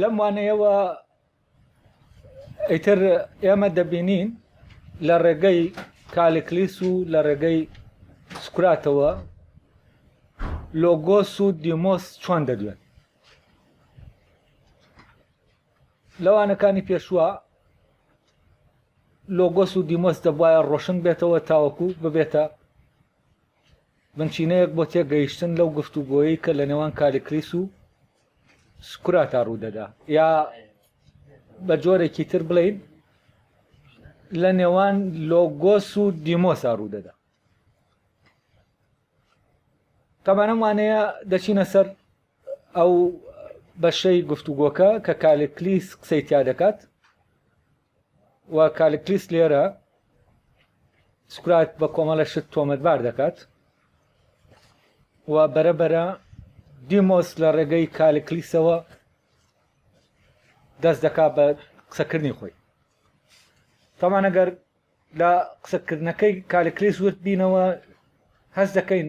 لەم وانەیەوە ئیتر ئێمە دەبینین لە ڕێگەی کالکلیس و لە ڕێگەی سکراتەوە لۆگۆس و دیمۆس چۆن دەدوێن لەوانەکانی پێشوە لۆگۆس و دیمۆس دەبواە ڕۆشن بێتەوە تاوەکو ببێتە بنچینەیەک بۆ تێگەیشتن لەو گفتوگۆیەی کە لە نێوان کالیکلیس و سکراتا ڕوودەدا یا بە جۆرێکی تر بڵین لە نێوان لۆگۆس و دیمۆسا ڕوودەدا تەمانەم وانەیە دەچینە سەر ئەو بەشەی گفتوگۆکە کە کالکلیس قسەی تیا دەکات و کالکلیس لێرە سکرات بە کۆمەڵە شت تۆمەتبار دەکات و بەرەبەرە دیمۆس لە ڕێگەی کالکلیسەوە دەست دەکا بە قسەکردنی خۆی تامان ئەگەر لە قسەکردنەکەی کالکلیس وت بینەوە هەست دەکەین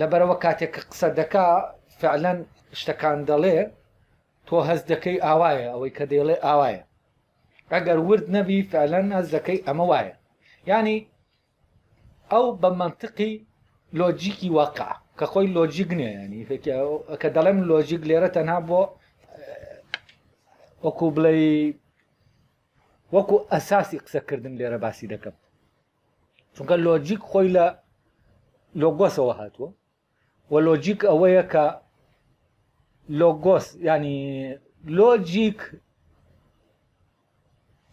لەبەرئەوە کاتێک کە قسە دەکا فعلەن شتەکان دەڵێ تۆ هەز دەکەی ئاوایە ئەوەی کە دەیڵێ ئاوایە ئەگەر ورد نەبی فعلەن هەز دەکەی ئەمە وایە ینی ئەو بە منطقی لۆجیکی واقع کە خۆی لۆجیک نیە ینی کە دەڵێم لۆجیک لێرە تەنها بۆ وەکو بڵێ وەکو ئەساسی قسەکردن لێرە باسی دەکەم چونکە لۆجیک خۆی لە لۆگۆسەوە هاتووە و لۆجیک ئەوەیە کە لۆگۆس ینی لۆجیک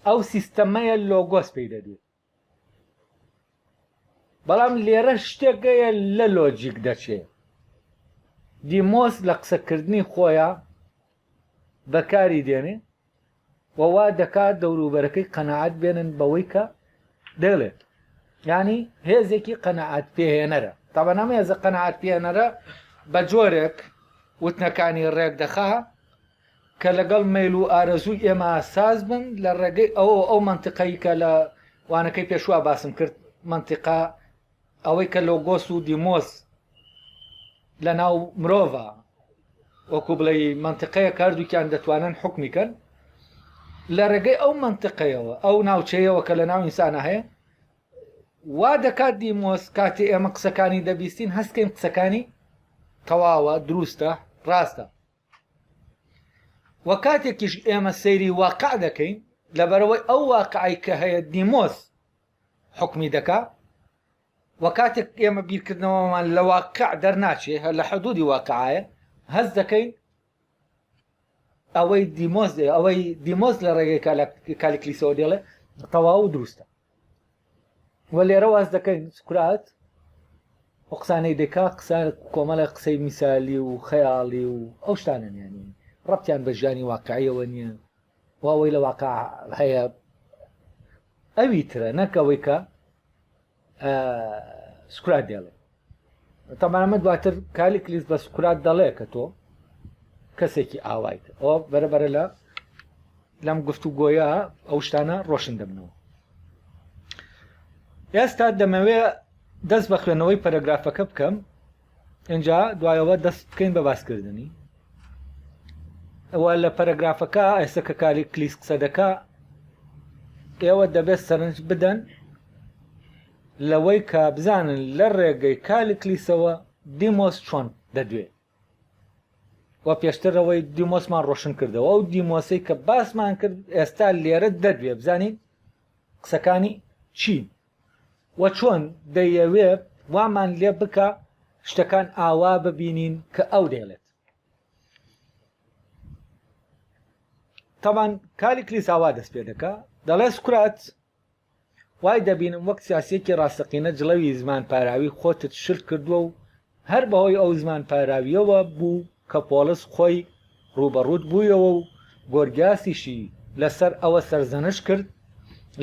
ئەو سیستەمەیە لۆگۆس پێی دەدێت بەڵام لێرە شتێکەیە لە لۆجیک دەچێت دیمۆس لە قسەکردنی خۆیان بەکاری دێنێ و وا دەکات دەوروبەرەکەی قەنەعەت بێنن بەوەی کە دەڵێت ینی هێزێکی قەنەعات پێهێنەرە تابەنامە هێزە قەنەعات پێێنەرە بە جۆرێک وتنەکانی ڕێک دەخا کە لەگەڵ میل و ئارەزووی ئێمە ساز بن لە ڕێگەی ئەو ئەو منتیقەی کە لە وانەکەی پێشوا باسم کرد منتیقا ئەوەی کە لۆگۆس و دیمۆس لە ناو مرۆڤە وەکو بڵێ منتقەیە کاردووکیان دەتوانن حکمی کەن لە ڕێگەی ئەو منتقەیەوە ئەو ناوچەیەوە کە لە ناو ئینسانە هەیە وا دەکات دیمۆس کاتی ئێمە قسەکانی دەبیستین هەستکەین قسەکانی تەواوە دروستە ڕاستە وە کاتێکیش ئێمە سەیری واقع دەکەین لەبەرەوەی ئەو واقعی کە هەیە دیمۆس حوکمی دەکا و کاتێک ئێمە بیرکردنەوەمان لە واقع دەرناچێ هەر لە حدودی واقعایە هەز دەکەین ئەوەی دیمۆز ئەوەی دیمۆز لە ڕێگەی کالیکلیسەوە دێڵێ تەواو و دروستە و لێرە واز دەکەین سکرات و قسانەی دەکا قسە کۆمەڵە قسەی میسالی و خەیاڵی و ئەو شتانە نیانی ڕەتیان بە ژیانی واقعیەوە نییە و ئەوەی لە واقع هەیە ئەوی ترە نەک ئەوەی کە سکرات دێڵێ تەمانەمە دواتر کالی کلیس بە سکرات دەڵێ کە تۆ کەسێکی ئاوایت ئەو بەرەبەرە لە لەم گفت و گۆیە ئەو شتانە ڕۆشن دەبنەوە ئێستا دەمەوێ دەست بە خوێنەوەی پەرەگرافەکە بکەم ئینجا دوایەوە دەست بکەین بە باسکردنی ئەوە لە پەرەگرافەکە ئێستا کە کاری کلیس قسە دەکا ئێوە دەبێت سەرنج بدەن لەوەی کە بزانن لە ڕێگەی کالی کلیسەوە دیمۆس چۆن دەدوێ و پێشترەوەی دیمۆسمان ڕۆشن کردەوە ئەو دیمۆسی کە باسمان کرد ئێستا لێرە دەدوێ بزانین قسەکانی چین وە چۆن دەیەوێ وامان لێ بکا شتەکان ئاوا ببینین کە ئەو دەیڵێت تاوان کاری کلیساوا دەست پێ دەکا دەڵێ سکرات وای دەبینم وەک سیاسیەکی ڕاستەقینە جڵەوی زمان پاراوی خۆتت شلت کردووە و هەر بەهۆی ئەو زمانپاراوییەوە بوو کە پۆڵس خۆی ڕووبەڕووت بوویەوە و گۆرگیاسیشی لەسەر ئەوە سەرزەنشت کرد،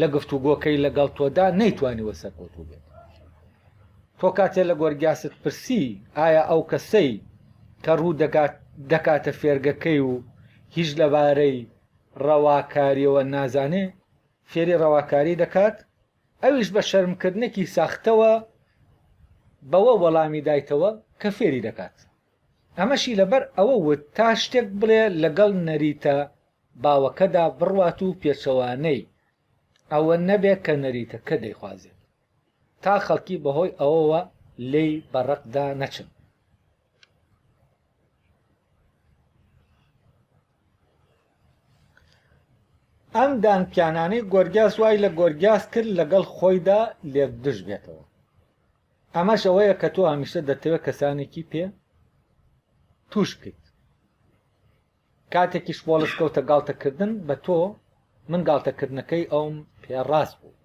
لە گفتوگۆکەی لەگەڵ تۆدا نەیتوانیوە سەرکەوتوو بێت. تۆ کاتێ لە گۆرگیاست پرسی ئایا ئەو کەسەی کە ڕوو دەکات دەکاتە فێرگەکەی و هیچ لەبارەی ڕەواکارییەوە نازانێ، فێری ڕەواکاری دەکات؟ ئەویش بە شەرمکردنێکی ساختەوە بەوە وەڵامی دایتەوە کە فێری دەکات. ئەمەشی لەبەر ئەوە وت تا شتێک بڵێ لەگەڵ نەریتە باوەکەدا بڕوات و پێچەوانەی ئەوە نەبێ کە نەریتەکە دەیخوازێ، تا خەڵکی بەهۆی ئەوەوە لێی بە ڕقدا نەچن. ئەم دانپیانانەی گۆرگیاس وای لە گۆرگیاس کرد لەگەڵ خۆیدا لێکدژ بێتەوە ئەمەش ئەوەیە کە تۆ هەمیشە دەتەوێت کەسانێکی پێ توش بکەیت کاتێکیش بۆڵس کەوتە گاڵتەکردن بە تۆ من گاڵتەکردنەکەی ئەوم پێ ڕاست بوو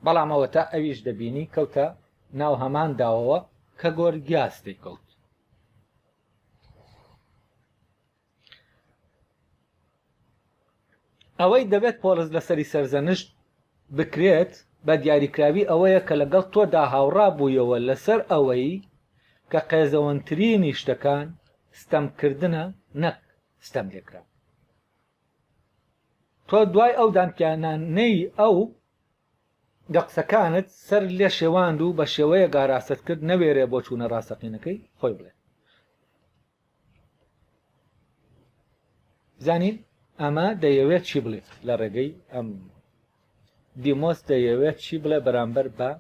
بەڵام ئەوە تا ئەویش دەبینی کەوتە ناو هەمان داوەوە کە گۆرگیاس دەیکەوت ئەوەی دەبێت پۆلس لەسەری سەرزەنشت بکرێت بە دیاریکراوی ئەوەیە کە لەگەڵ تۆدا هاوڕا بوویەوە لەسەر ئەوەی کە قێزەوەنترینی شتەکان ستەمکردنە نەک ستەم لێکرا تۆ دوای ئەو دانپیانانەی ئەو لە قسەکانت سەر لێ شێواند و بە شێوەیە گاراستت کرد نەوێرێ بۆ چوونە ڕاستەقینەکەی خۆی بڵێ زانین ئەمە دەیەوێت چی بڵێت لە ڕێگەی ئەم دیمۆس دەیەوێت چی بڵێ بەرامبەر بە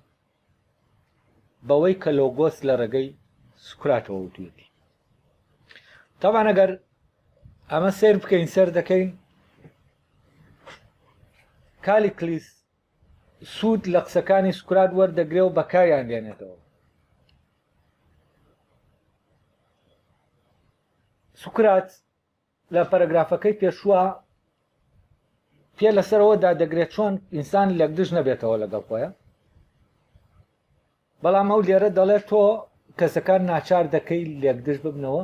بەوەی کە لۆگۆس لە ڕێگەی سوکراتەوە وتوێتی تاوان ئەگەر ئەمە سیر بکەین سەر دەکەین کالی کلیس سوود لە قسەکانی سوکرات وەردەگرێ و بەکاریان دێنێتەوە سوکرات لە پەرەگرافەکەی پێشووە پێ لەسەرەوەدا دەگرێت چۆن ئینسان لەگدژ نەبێتەوە لەگەڵ خۆیان بەڵام ئەو لێرە دەڵێت تۆ کەسەکان ناچار دەکەی لێکدژ ببنەوە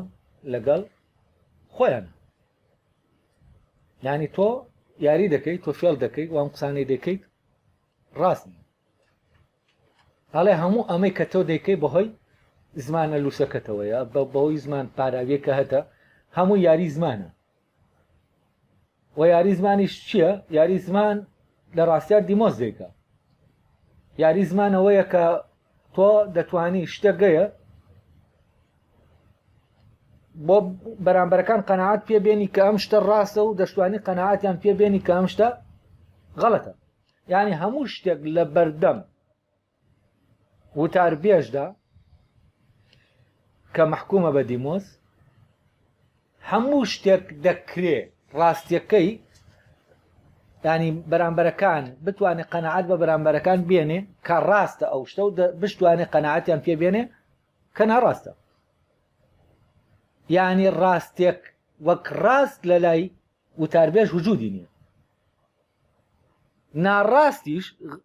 لەگەڵ خۆیان ینی تۆ یاری دەکەی تۆ فێڵ دەکەی وام قسانەی دەکەیت ڕاست هەڵێ هەموو ئەمەی کە تۆ دەیکەی بەهۆی زمانە لووسەکەتەوەیە بە بەوەی زمان پاراویەکە هەتە هەموو یاری زمانە و یاری زمانیش چییە یاری زمان لە ڕاستیا دیمۆز دیکە یاری زمانەوەیە کە تۆ دەتانی شتەگەیە بۆ بەرامبەرەکان قەنەعات پێبێنی کە ئەم شتە ڕاستە و دەشتوانی قەنەعاتیان پێبێنی کە ئەم شتە غەڵەتە ینی هەموو شتێک لە بەردەم وتاربێژدا کە مەحکومە بە دیمۆز هەموو شتێک دەکرێ ڕاستیەکەی ینی بەرامبەرەکان بتوانێت قەنەعات بە بەرامبەرەکان بێنێ کە ڕاستە ئەو شتە و بشتوانێت قەنەعاتیان پێ بێنێ کە ناڕاستە ینی ڕاستێک وەک ڕاست لە لای وتاربێژ وجودی نییە ناڕاستیش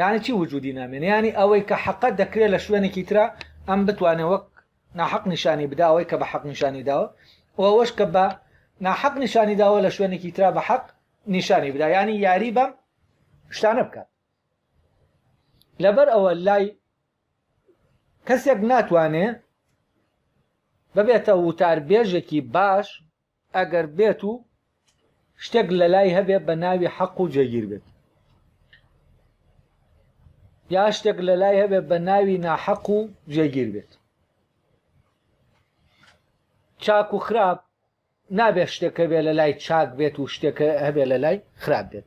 یانی چی وجودی نامێنێ یانی ئەوەی کە حەقە دەکرێت لە شوێنێکی ترا ئەم بتوانێت وەک ناحەق نیشانی بدا ئەوەی کە بە حەق نیشانی داوە و ئەوەش کە بە ناحەق نیشانی داوە لە شوێنێکی ترا بە حەق نیشانی بدا یانی یاری بەم شتانە بکات لەبەر ئەوە لای کەسێک ناتوانێ ببێتە وتاربێژێکی باش ئەگەر بێت و شتێک لەلای هەبێت بە ناوی حەق و جێگیر بێت یا شتێک لەلای هەبێت بە ناوی ناحەق و جێگیر بێت چاک و خراپ نابێت شتێکە بێ لە لای چاک بێت و شتێکە هەبێ لە لای خراپ بێت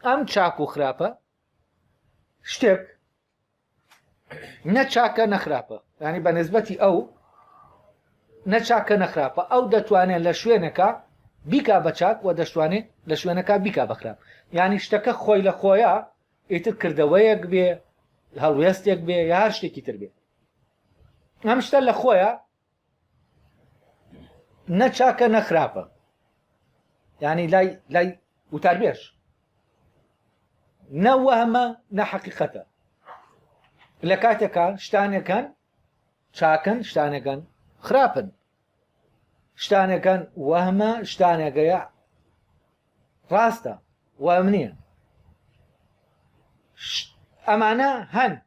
ئەم چاک و خراپە شتێک نەچاکە نەخراپە ینی بە نسبەتی ئەو نەچاکە نەخراپە ئەو دەتوانێت لە شوێنەکە بیکا بە چاک و دەشتوانێت لە شوێنەکە بیکا بەخراپ ینی شتەکە خۆی لە خۆیە ئیتر کردەوەیەک بێ هەڵوێستێک بێ یا هەر شتێکی تر بێ ئەم شتە لە خۆیە نە چاکە نە خراپە ینی لای لای وتاربێژ نە وەهمە نە حەقیقەتە لە کاتێکە شتانەکان چاکن شتانەکان خراپن شتانەکان وەهمە شتانەکەیە ڕاستە وام نییە ئەمانە هەن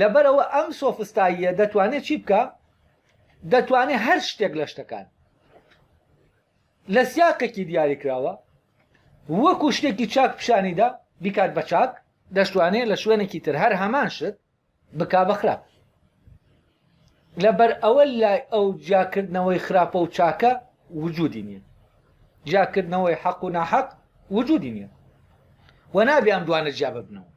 لەبەرئەوە ئەم سۆفستاییە دەتوانێت چی بکە دەتوانێت هەر شتێک لە شتەکان لە سیاقێکی دیاری کراوە وەکو شتێکی چاک پیشانیدا بیکات بە چاک دەشتوانێت لە شوێنێکی تر هەر هەمان شت بک بە خراپ لەبەر ئەوە لای ئەو جیاکردنەوەی خراپە و چاکە وجودی نیە جیاکردنەوەی حەق و ناحەق وجودی نیە و نابێ ئەم دوانە جیا ببنەوە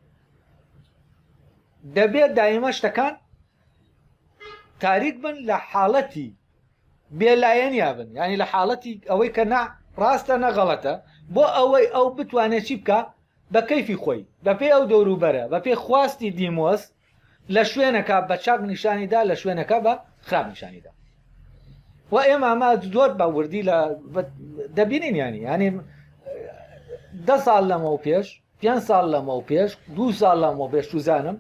دەبێت دایمە شتەکان تاریک بن لە حاڵەتی بێلایەنیا بن ینی لە حاڵەتی ئەوەی کە نا ڕاستە نەغەڵەتە بۆ ئەوەی ئەو بتوانێت چی بکە بە کەیفی خۆی بەپێ ئەو دەوروبەرە بەپێ خواستی دیمۆس لە شوێنەکە بە چاک نیشانیدا لە شوێنەکە بە خراپ نیشانیدا و ئێمە ئەمە زۆر بە وردی لە دەبینین ینی ینی ده ساڵ لەمە و پێش پێ ساڵ لەمە و پێش دو ساڵ لەمە پێش توزانم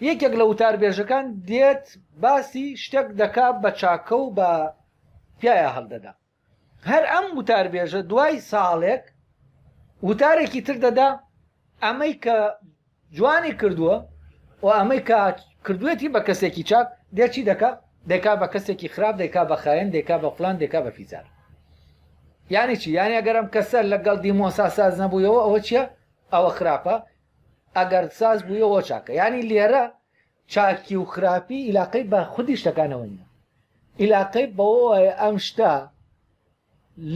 یەکێک لە وتار بێژەکان دێت باسی شتێک دەکات بە چاکە و بە پیاە هەڵدەدا هەر ئەم وتاربێژە دوای ساڵێک وتارێکی تر دەدا ئەمەی کە جوانی کردووە و ئەمەی کە کردوێتی بە کەسێکی چاک دێچی دەکا دەکا بە کەسێکی خراپ دەکا بە خاێن دەکا بە فلان دەکا بە فیزار یانی چی یانی ئەگەرم کەسە لەگەڵ دیمۆسا ساز نەبوویەوە ئەوە چییە ئەوە خراپە ئەگەر ساز بوویەوە چاکە ینی لێرە چاکی و خراپی ئیلاقەی بە خودی شتەکانەوە نیە ئیلاقەی بەوەوە ئەم شتە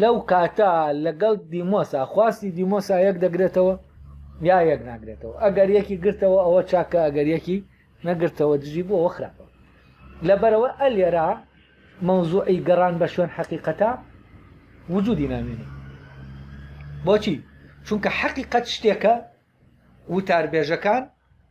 لەو کاتە لەگەڵ دیمۆسا خواستی دیمۆسا یەک دەگرێتەوە یا یەک ناگرێتەوە ئەگەر یەکی گرتەوە ئەوە چاکە ئەگەر یەکی نەگرتەوە دژی بۆەوە خراپە لەبەرەوە ئە لێرا مەوزوعی گەڕان بە شوێن حەقیقەتە وجودی نامێنێ بۆچی چونکە حەقیقەت شتێکە وتاربێژەکان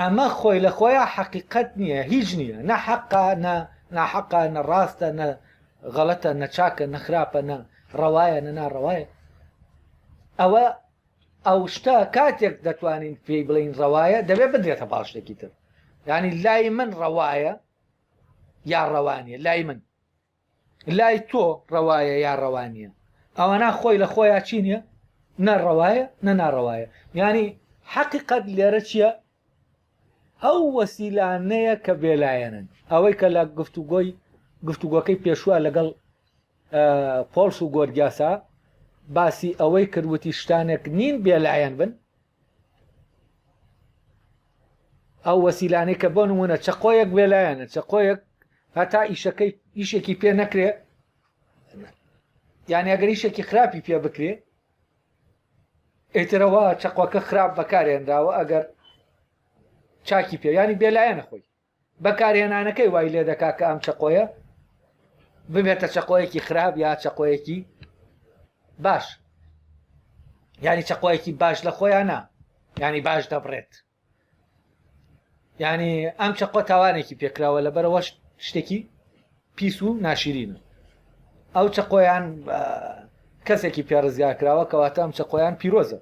ئەمە خۆی لە خۆیا حەقیقەت نییە هیچ نییە نە حەقە نە ناحەقە نە ڕاستە نە غەڵەتە نە چاکە نە خراپە نە ڕەوایە نە ناڕەوایە ئەوە ئەو شتە کاتێک دەتوانین پێی بڵین ڕەوایە دەبێت بدرێتە پاڵ شتێکی تر ینی لای من ڕەوایە یا ڕەوانە لای من لای تۆ ڕەوایە یا ڕەوا نییە ئەوەنا خۆی لە خۆیان چی نیە نە ڕەوایە نە ناڕەوایە یانی حەقیقەت لێرە چییە ئەو وەسیلانەیە کە بێلایەنن ئەوەی کە لە گفتوگۆی گفتوگۆکەی پێشوە لەگەڵ پۆلس و گۆرگیاسا باسی ئەوەی کردوتی شتانێک نین بێلایەن بن ئەو وەسیلانەی کە بۆ نمونە چەقۆیەک وێلایەنە چەقۆیەک هەتا ئیشەکەی ئیشێکی پێ نەکرێ یان ئەگەر ئیشێکی خراپی پێ بکرێ ئەیترەوە چەقۆکە خراپ بەکارێنراوە ئەگەر چاکی پێیانی بێلایەنە خۆی بەکارهێنانەکەی وای لێ دەکات کە ئەم چەقۆیە ببێتە چەقۆیەکی خراپ یا چەقۆیەکی باش ینی چەقۆیەکی باش لە خۆیان نا ینی باش دەبڕێت ینی ئەم چەقۆ تاوانێکی پێکراوە لە بەرەوە شتێکی پیس و ناشیرینە ئەو چەقۆیان کەسێکی پێڕزگا کراوە کەواتە ئەم چەقۆیان پیرۆزە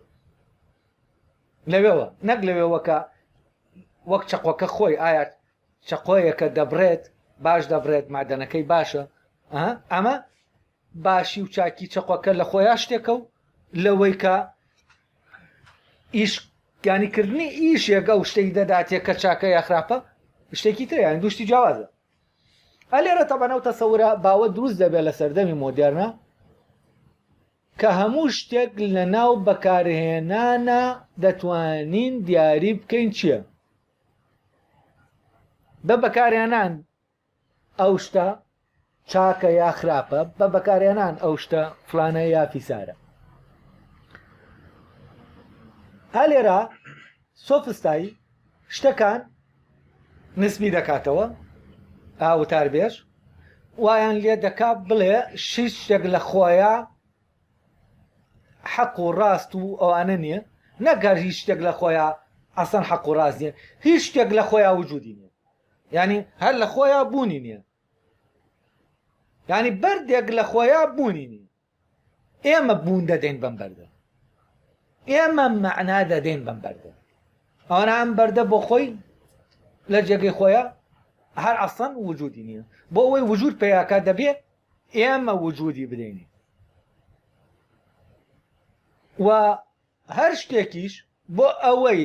لەوێوە نەک لەوێوە کە وەک چەقۆکە خۆی ئایا چەقۆیەکە دەبرێت باش دەبرێت مادەنەکەی باشە ئەمە باشی و چاکی چەقۆکە لە خۆیان شتێکە و لەوەی کە ئیش گانیکردنی ئیشێکە و شتێک دەداتێک کە چاکە یا خراپە شتێکی تریان دوشتی جیاوازە ئەلێرە تەبەنەوتە سەورە باوە دروست دەبێت لە سەردەمی مۆدێرنە کە هەموو شتێک لەناو بەکارهێنانە دەتوانین دیاری بکەین چیە بە بەکارهێنان ئەو شتە چاکە یا خراپە بە بەکارهێنان ئەو شتە فلانە یا فیسارە ئالێرا سۆفستایی شتەکان نسبی دەکاتەوە، ئا وتاربێژ وایان لێ دەکا بڵێ شیش شتێک لە خۆیا حەق و ڕاست و ئەوانە نییە، نەگەر هیچ شتێک لە خۆیا ئەسەن حەق و ڕاست نییە، هیچ شتێک لە خۆیا وجودی نییە، یانی هەر لە خۆیا بوونی نییە، یانی بەردێک لە خۆیا بوونی نییە. ئێمە بوون دەدەین بەم بەردە ئێمە مەعنا دەدەین بەم بەردە ئەوانە ئەم بەردە بۆ خۆی لە جێگەی خۆیە هەر ئەسڵەن وجودی نیە بۆ ئەوەی وجود پیاکە دەبێت ئێمە وجودی بدەینی و هەر شتێکیش بۆ ئەوەی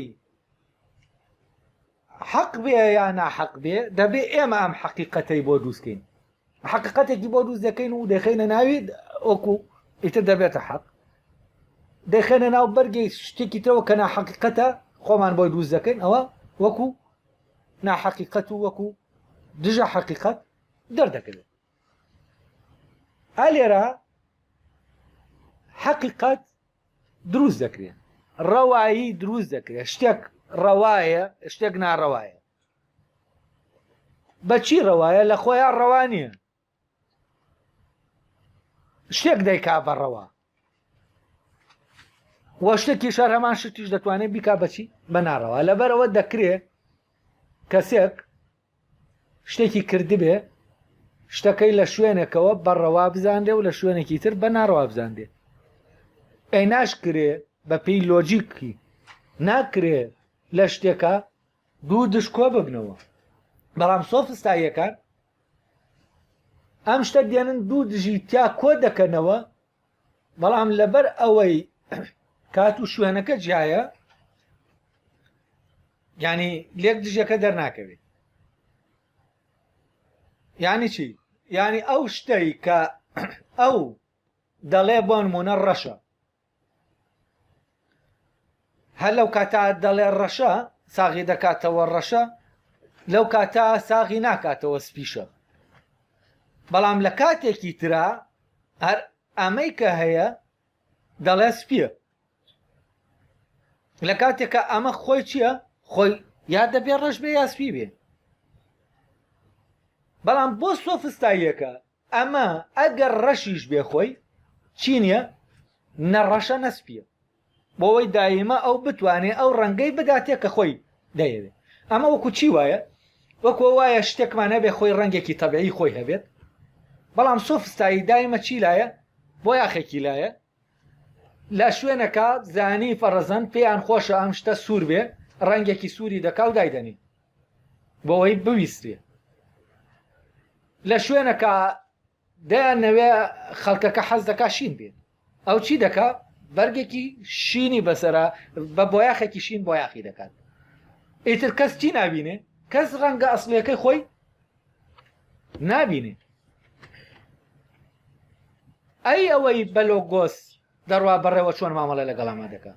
حەق بێ یا ناحەق بێ دەبێ ئێمە ئەم حەقیقەتەی بۆ دروستکەین حەقیقەتێکی بۆ دروست دەکەین و دەخینە ناوی ئۆکو ئیتر دەبێتە حەق دەخێنە ناو بەرگی شتێکی تەوە کە ناحەقیقەتە خۆمان بۆی دروست دەکەین ئەوە وەکو ناحەقیقەت و وەکو دژە حەقیقەت دەردەکەوێت ئالێرە حەقیقەت دروست دەکرێت ڕەوایی دروست دەکرێت شتێک ڕەوایە شتێک ناڕەوایە بەچی ڕەوایە لە خۆیان ڕەوانە شتێک دەیکا بە ڕەوا وە شتێکی شار هەمان شتیش دەتوانێت بیکا بەچی بە ناڕەوە لەبەرەوە دەکرێت کەسێک شتێکی کردبێ شتەکەی لە شوێنێکەوە بە ڕەوا بزانرێ و لە شوێنێکی تر بە ناڕەوا بزانرێ ئەی ناشکرێ بە پێی لۆجیکی ناکرێ لە شتێکە دوو دشکۆ ببنەوە بەڵام سۆفستاییەکان ئەم شتە دێنن دوو دژی تیا کۆ دەکەنەوە بەڵام لەبەر ئەوەی کات و شوێنەکە جیایە ینی لێک دژەکە دەرناکەوێت ینی چی ینی ئەو شتەی کە ئەو دەڵێ بۆ نمونە ڕەشە هەر لەو کاتە دەڵێ ڕەشە ساغی دەکاتەوە ڕەشە لەو کاتە ساغی ناکاتەوە سپیشە بەڵام لە کاتێکی ترا هەر ئەمەی کە هەیە دەڵێ سپیە لە کاتێکە ئەمە خۆی چییە خۆی یا دەبێ ڕەش بێ یاسپی بێ بەڵام بۆ سۆفستاییەکە ئەمە ئەگەر ڕەشیش بێ خۆی چی نیە نە ڕەشە نە سپیە بۆەوەی دایمە ئەو بتوانێ ئەو ڕەنگەی بداتێ کە خۆی دەیەوێت ئەمە وەکو چی وایە وەکو وایە شتێکمان هەبێ خۆی ڕەنگێکی تەبعی خۆی هەبێت بەڵام سۆفستایی دایمە چی لایە بۆ یاخێکی لایە لە شوێنەکە زانی فەڕەزەن پێیان خۆشە ئەم شتە سوور بێ ڕەنگێکی سووری دەکا و دایدەنی بۆەوەی بویستێ لە شوێنەکە دەیان نەوێ خەڵکەکە حەز دەکا شین بێت ئەو چی دەکا بەرگێکی شینی بەسرە بە بۆیاخێکی شین بۆیاخی دەکات ئیتر کەس چی نبینێ کەس ڕەنگە ئەسلەکەی خۆی نابینێ ئەی ئەوەی بەلۆگۆس دەڕوا بەڕێوە چۆن مامەڵێ لەگەڵاما دەکە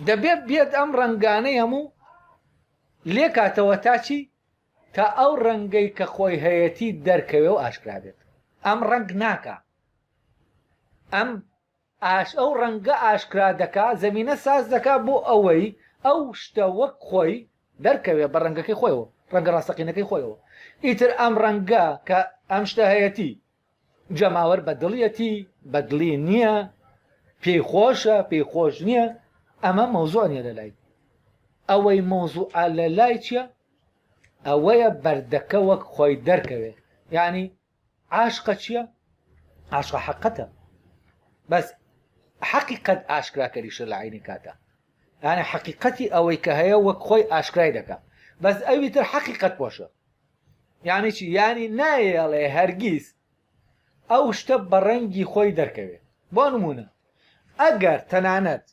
دەبێت بێت ئەم ڕنگانەی هەموو لێ کاتەوە تاچی تا ئەو ڕەنگەی کە خۆی هەیەتی دەرکەوێ و ئاشکرابێت ئەم ڕنگ ناکە ئەم ئاش ئەو ڕەنگە ئاشکرا دەکا، زەمینە ساز دەکا بۆ ئەوەی ئەو شتە وەک خۆی دەرکەوێ، بە ڕەنگەکەی خۆیەوە، ڕەنگە ڕاستەقینەکەی خۆیەوە. ئیتر ئەم ڕەنگە کە ئەم شتە هەیەتی، جەماوەر بە دڵیەتی، بە دڵی نییە، پێی خۆشە، پێی خۆش نییە، ئەمە مەوزوع نییە لە لای. ئەوەی مەوزوعە لە لای چییە؟ ئەوەیە بەردەکە وەک خۆی دەرکەوێ. یانی عاشقە چیە عاشقە حەقەتە بەس حەقیقەت ئاشکراکەریشە لە عینی کاتا یانە حەقیقەتی ئەوەی کە هەیە وەک خۆی ئاشکرای دەکە بەس ئەوی تر حەقیقەت پۆشە یانی چی ینی نایەڵێ هەرگیز ئەو شتە بە ڕەنگی خۆی دەرکەوێ بۆ نمونە ئەگەر تەنانەت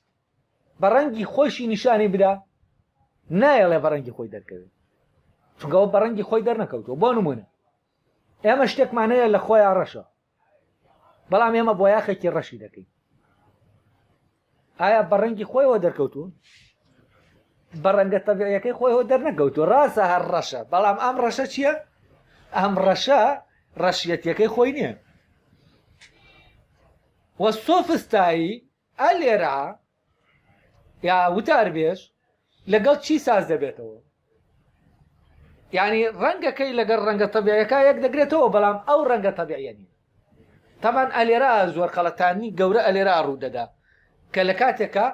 بە ڕەنگی خۆشی نیشانی بدا نایەڵێ بە ڕەنگی خۆی دەرکەوێت چونکەەوە بە ڕەنگی خۆی دەرنەکەوتەوە بۆ نمونە ئێمە شتێکمان هەیە لە خۆیا ڕەشە بەڵام ئێمە بۆیاخێکی ڕەشی دەکەین ئایا بە ڕەنگی خۆیەوە دەرکەوتون بە ڕەنگە تەبیعەکەی خۆیەوە دەرنەکەوتو ڕاستە هەر ڕەشە بەڵام ئەم ڕەشە چییە ئەم ڕەشە ڕەشیەتەکەی خۆی نییە وە سۆفستایی ئا لێرە ئا یا وتاربێژ لەگەڵ چی ساز دەبێتەوە؟ یانی ڕەنگەکەی لەگەڵ ڕەنگە تەبیعیەکە یەک دەگرێتەوە بەڵام ئەو ڕەنگە تەبیعیە نین تەمان ئەلێرا زۆر خەڵەتانی گەورە ئەلێرا ڕوو دەدا کە لە کاتێکە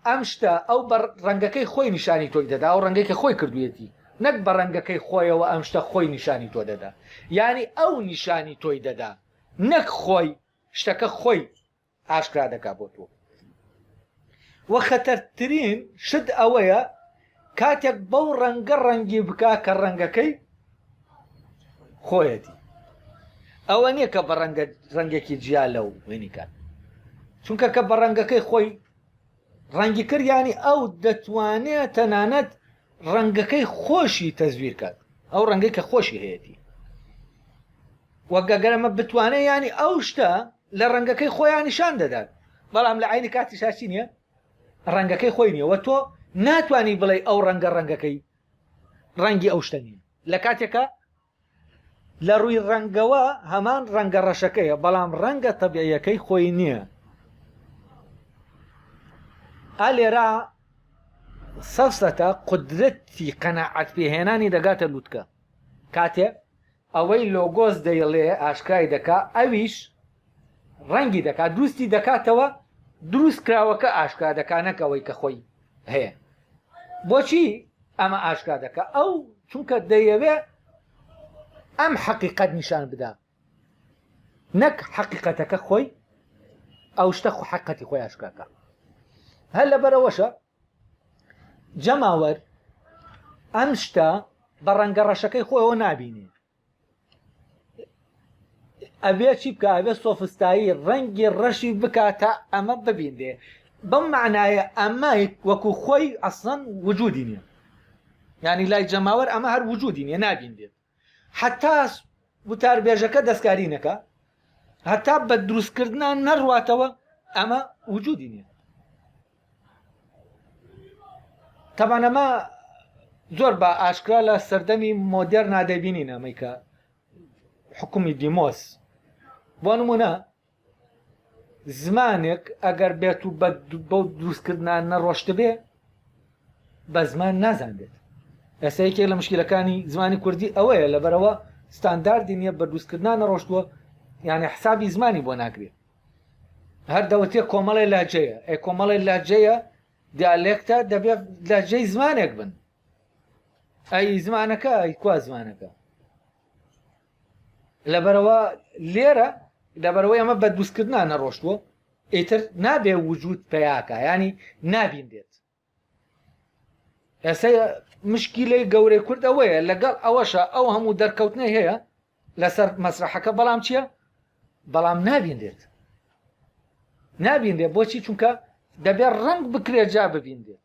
ئەم شتە ئەو بە ڕەنگەکەی خۆی نیشانی تۆی دەدا و ڕەنگەی کە خۆی کردوێتی نەک بە ڕەنگەکەی خۆیەوە ئەم شتە خۆی نیشانی تۆ دەدا یانی ئەو نیشانی تۆی دەدا نەک خۆی شتەکە خۆی ئاشکرا دەکا بۆ تۆ وە خەتەرترین شت ئەوەیە کاتێک بەو ڕەنگە ڕەنگی بکا کە ڕەنگەکەی خۆیەتی ئەوە نییە کە بە ڕەنگە ڕەنگێکی جیا لەو وێنیکات چونکە کە بە ڕەنگەکەی خۆی ڕەنگی کردیانی ئەو دەتوانێت تەنانەت ڕەنگەکەی خۆشی تەزویر کات ئەو ڕەنگەی کە خۆشی هەیەی وەگەگەرەمە بتوانێت ینی ئەو شتە لە ڕەنگەکەی خۆیان نیشان دەدات بەڵام لە عینی کاتیشا چی نییە ڕەنگەکەی خۆی نییە وە تۆ ناتانی بڵێ ئەو ڕەنگە ڕەنگەکەی ڕەنگی ئەو شتە نییە لە کاتێکە لە ڕووی ڕەنگەوە هەمان ڕەنگە ڕەشەکەیە بەڵام ڕەنگە تەبیعیەکەی خۆی نییە ئالێرا سەفسەتە قدرەتی قەنەعات پێهێنانی دەگاتە لووتکە کاتێ ئەوەی لۆگۆس دەیڵێ ئاشکرای دەکا ئەویش ڕەنگی دەکا دروستی دەکاتەوە دروست کراوەکە ئاشکرا دەکا نەک ئەوەی کە خۆی هەیە بۆچی ئەمە ئاشکا دەکە ئەو چونکە دەیەوێ ئەم حەقیقەت نیشان بدا نەک حەقیقەتەکە خۆی ئەو شتە خو حقەتی خۆی ئاشکاکە هەر لەبەرەوەشە جەماوەر ئەم شتە بە ڕەنگە ڕەشەکەی خۆیەوە نابینێ ئەبێ چی بکە ئەبێ سۆفستایی ڕەنگی ڕەشی بکاتە ئەمە ببینێ بەم معناایە ئەمە وەکو خۆی ئەسڵەن وجودی نیە ینی لای جەماوەر ئەمە هەر وجودی نیە نابین دێت هەتا وتاربێژەکە دەستکاری نەکا هەتا بە دروست کردنا نەڕواتەوە ئەمە وجودی نیە تەبانەمە زۆر بە ئاشکرا لە سەردەمی مۆدێر نادەبینین ئەمەیکە حکومی دیمۆس بۆ نمونە زمانێک ئەگەر بێت و بۆ دروستکردنان نەڕۆشتبێ بە زمان نازانێت ئێستا یەکێک لە مشکلەکانی زمانی کوردی ئەوەیە لەبەرەوە ستانداردی نییە بە دروستکردنا نەڕۆشتووە یانە حسابی زمانی بۆ ناکرێت هەر دەوتێ کۆمەڵی لاجەیە ئەی کۆمەڵی لاجەیە دیالێکتە دەبێت لاجەی زمانێک بن ئەی زمانەکە ئەی کوا زمانەکە لەبەرەوە لێرە لەبەرەوەی ئەمە بە دروستکردنا نەڕۆشتووە ئیتر نابێ وجود پیاکە ینی نابین دێت ئێستا مشکیلەی گەورەی کورد ئەوەیە لەگەڵ ئەوەشە ئەو هەموو دەرکەوتنەی هەیە لەسەر مەسرحەکە بەڵام چییە بەڵام نابین دێت نابین دێت بۆچی چونکە دەبێت ڕنگ بکرێت جا ببین دێت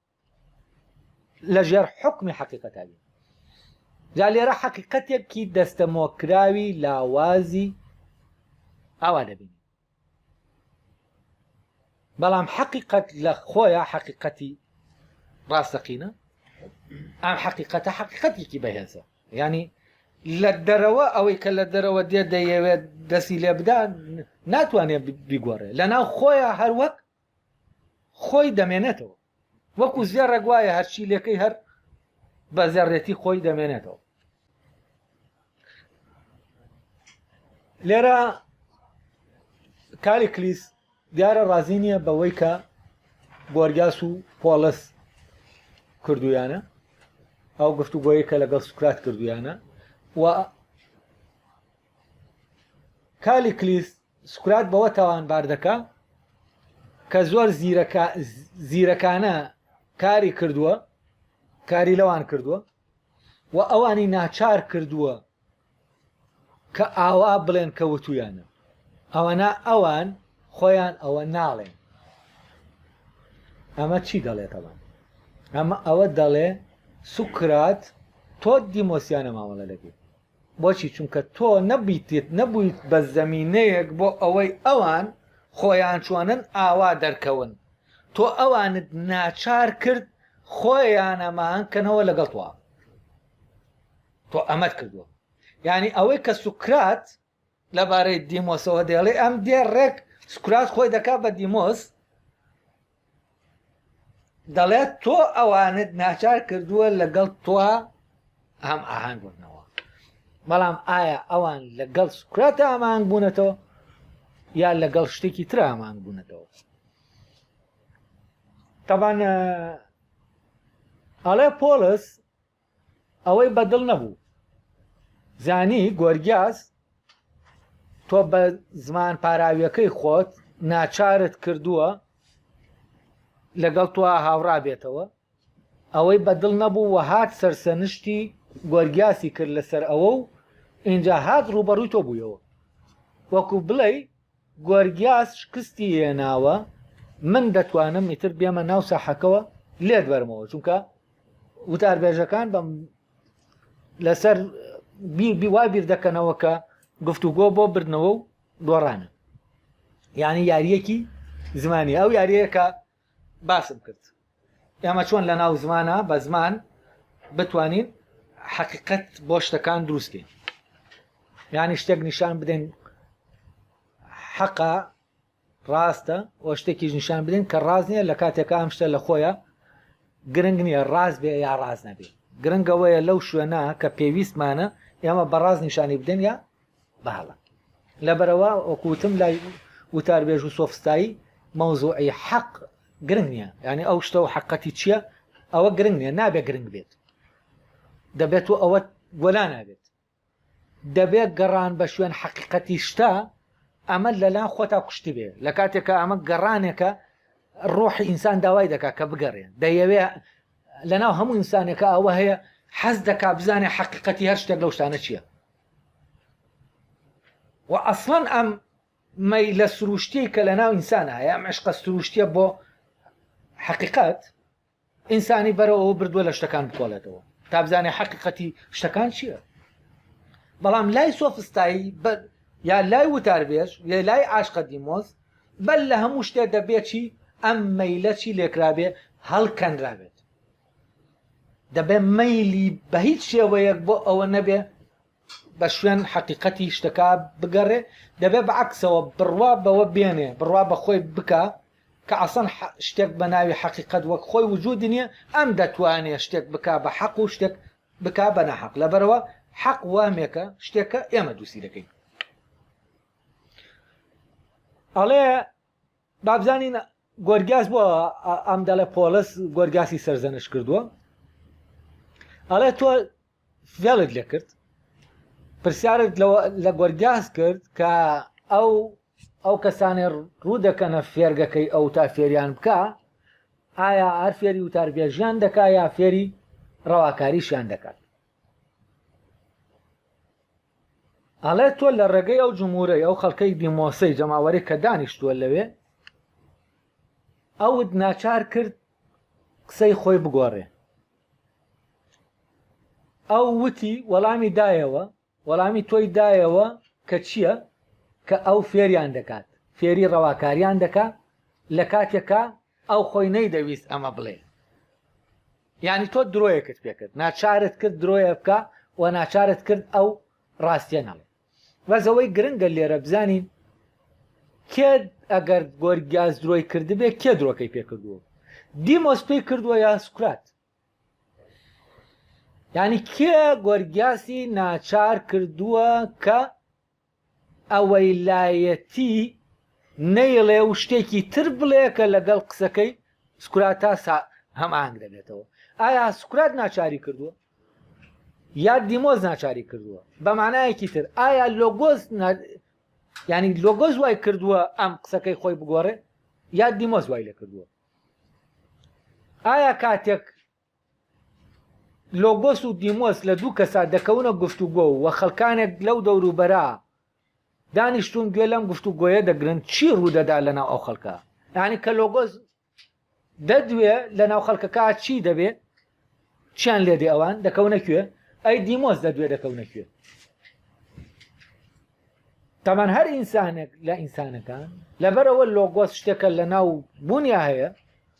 لە ژێر حکمی حەقیقەتا بین جا لێرە حەقیقەتێکی دەستەمۆکراوی لاوازی ئاوا دەبین بەڵام حەقیقەت لە خۆیان حەقیقەتی ڕاستەقینە ئەم حەقیقەتە حەقیقەتێکی بەهێزە ینی لە دەرەوە ئەوەی کە لە دەرەوە دێ دەیەوێت دەسی لێ بدان ناتوانێت بیگۆڕێ لە ناو خۆیان هەروەک خۆی دەمێنێتەوە وەکو زێڕێک وایە هەرچی لەکەی هەر بە زێڕێتی خۆی دەمێنێتەوە لێرە کالی کلیس دیارە ڕازی نییە بەوەی کە گۆرگاس و پۆلس کردویانە ئەو گفتوگۆیە کە لەگەڵ سوکرات کردویانە و کالیکلیس سوکرات بەوە تاوانبار دەکا کە زۆر زیرەکانە کاری کردووە کاری لەوان کردووە و ئەوانی ناچار کردووە کە ئاوا بڵێن کە وتویانە ئەوەنا ئەوان خۆیان ئەوە ناڵێن ئەمە چی دەڵێتەوە ئەمە ئەوە دەڵێ سوکرات تۆ دیمۆسیانە مامەڵە دەکەیت بۆچی؟ چونکە تۆ نەبیتت نەبوویت بە زەمینەیەک بۆ ئەوەی ئەوان خۆیان چۆنن ئاوا دەرکەون، تۆ ئەوانت ناچار کرد خۆیان ئەماهەنگ کەنەوە لەگەڵ تۆ، تۆ ئەمەت کردووە یانی ئەوەی کە سوکرات لەبارەی دیمۆسەوە دەیڵێ ئەم دێ ڕێک سکرات خۆی دەکات بە دیمۆس دەڵێت تۆ ئەوانت ناچار کردووە لەگەڵ تۆ هەم ئاهنگ بنەوە بەڵام ئایا ئەوان لەگەڵ سکرات ئامانگ بوونەتەوە یا لەگەڵ شتێکی تر ئامانگ بوونەتەوە تەبان ئەڵێ پۆلس ئەوەی بەدڵ نەبوو زانی گۆرگیاز تۆ بە زمان پاراویەکەی خۆت ناچارت کردووە لەگەڵ تۆ هاوڕابێتەوە ئەوەی بەدڵ نەبوو و هات سەرسەنشتی گۆرگیاسی کرد لەسەر ئەوە و ئینجا هات ڕوبەڕووی تۆ بوویەوە وەکو بڵێ گۆرگیاس شکستی هێناوە من دەتوانم ئیتر بێمە ناو ساحەکەوە لێت بەرمەوە چونکە وتاربێژەکان بەم لەسەر وا بیر دەکەنەوە کە گفتوگۆ بۆ بردنەوە و دۆڕانە یعنی یاریەکی زمانی ئەو یاریەکە باسم کرد ئێمە چۆن لە ناو زمانا بە زمان بتوانین حەقیقەت بۆ شتەکان دروست بین یانی شتێک نیشان بدەین حەقا ڕاستە و شتێکیش نیشان بدەین کە ڕاز نییە لە کاتێکە ئەم شتە لە خۆیە گرنگ نییە ڕاز بێ یا ڕاز نەبێ گرنگەوەیە لەو شوێنە کە پێویستمانە ئێمە بەڕاز نیشانی بدەین یا بەڵە لەبەرەوە وەکوتم لای وتار بێژ و سۆفستایی مەوزوعی حەق گرنگ نییە ینی ئەو شتە و حقەتی چییە ئەوە گرنگ نیە نابێ گرنگ بێت دەبێت و ئەوە وەلا نابێت دەبێت گەڕان بە شوێن حقیقەتی شتا ئەمە لەلان خۆتا کوشتی بێ لە کاتێکە ئەمە گەڕانێکە ڕۆحی ئینسان داوای دەکات کە بگەڕێ دەیەوێ لەناو هەموو ئینسانێکە ئەوە هەیە حەز دەکا بزانێ حقیقەتی هەر شتێک لەو شتانە چییە و ئەسڵەن ئەم مەیلە سروشتی کە لە ناو ئینسان هەیە ئەم عشقە سروشتیە بۆ حقیقت ئینسانی بەرەوەەوە بردووە لە شتەکان بکۆڵێتەوە تابزانێ حقیقەتی شتەکان چییە بەڵام لای سۆفستایی یا لای وتاربێژ یا لای عاشقە دیمۆز بەل لە هەموو شتێ دەبێت چی ئەم مەیلەچی لێکرابێ هەڵکەنرابێت دەبێ مەیلی بە هیچ شێوەیەک بۆ ئەوە نەبێ بە شوێن حەقیقەتی شتەکە بگەڕێ دەبێ بە عکسەوە بڕوا بەوە بێنێ بڕوا بەخۆی بکە کە ئەسەن شتێک بە ناوی حەقیقەت وەک خۆی وجود نییە ئەم دەتوانێ شتێک بک بە حەق و شتێک بک بە نەحەق لەبەرەوە حەق وامێکە شتێکە ئێمە دووسی دەکەین ئەڵێ با بزانین گۆرگیاس بۆ ئەم دەڵێ پۆڵس گۆرگاسی سەرزەنش کردووە ئەڵێ تۆ فێڵت لێ کرد پرسیارت لە گۆرگاس کرد کە ئەو ئەو کەسانێ ڕوو دەکەنە فێرگەکەی ئەو تا فێریان بکە ئایا هەر فێری وتاربێژیان دەکا یا فێری ڕەواکاریشیان دەکات ئەڵێ تۆ لە ڕێگەی ئەو جمهورەی ئەو خەڵکەی دیمۆسەی جەماوەری کە دانیشتووە لەوێ ئەوت ناچار کرد قسەی خۆی بگۆڕێ ئەو وتی وەڵامی دایەوە وەڵامی تۆی دایەوە کە چییە کە ئەو فێریان دەکات فێری ڕەواکاریان دەکات لە کاتێکا ئەو خۆی نەیدەویست ئەمە بڵێ یانی تۆ درۆیەکت پێ کرد ناچارت کرد درۆیە بکا و ناچارت کرد ئەو ڕاستیە نەڵێ بەس ئەوەی گرنگە لێرە بزانین کێ ئەگەر گۆرگیاز درۆی کردبێ کێ درۆکەی پێ کردووە دیمۆس پێی کردووە یا سوکرات یعنی کێ گۆرگیاسی ناچار کردووە کە ئەوەیلایەتی نەیڵێ و شتێکی تر بڵێ کە لەگەڵ قسەکەی سکراتاس هەماهەنگ دەبێتەوە ئایا سکرات ناچاری کردووە یا دیمۆز ناچاری کردووە بە مانایەکی تر ئایا لۆگۆز ینی لۆگۆز وای کردووە ئەم قسەکەی خۆی بگۆڕێ یا دیمۆز وای لە کردووە ئایا کاتێک لۆگۆس و دیمۆس لە دوو کەسا دەکەونە گفتوگۆ و وە خەلکانێک لەو دەوروبەرا دانیشتوون گوێ لەم گفتوگۆیە دەگرن چی ڕوودەدا لەناو ئەو خەلکە یانی کە لۆگۆس دەدوێ لەناو خەلکەکە چی دەبێ چیان لێدێ ئەوان دەکەونە کوێ ئەی دیمۆس دەدوێ دەکەونە کوێ تەمان هەر ئینسانێک لە ئینسانەکان لەبەرەوە لۆگۆس شتێکە لە ناو بوونیا هەیە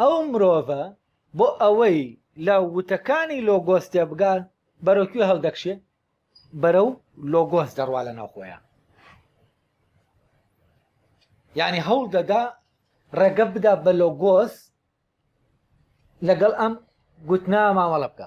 ئەو مرۆڤە بۆ ئەوەی لە وتەکانی لۆگۆس تێبگا بەرەو کوێ هەڵدەکشێ بەرەو لۆگۆس دەڕوا لە ناو خۆیان یعنی هەوڵ دەدا ڕێگە بدا بە لۆگۆس لەگەڵ ئەم گوتنا مامەڵە بکە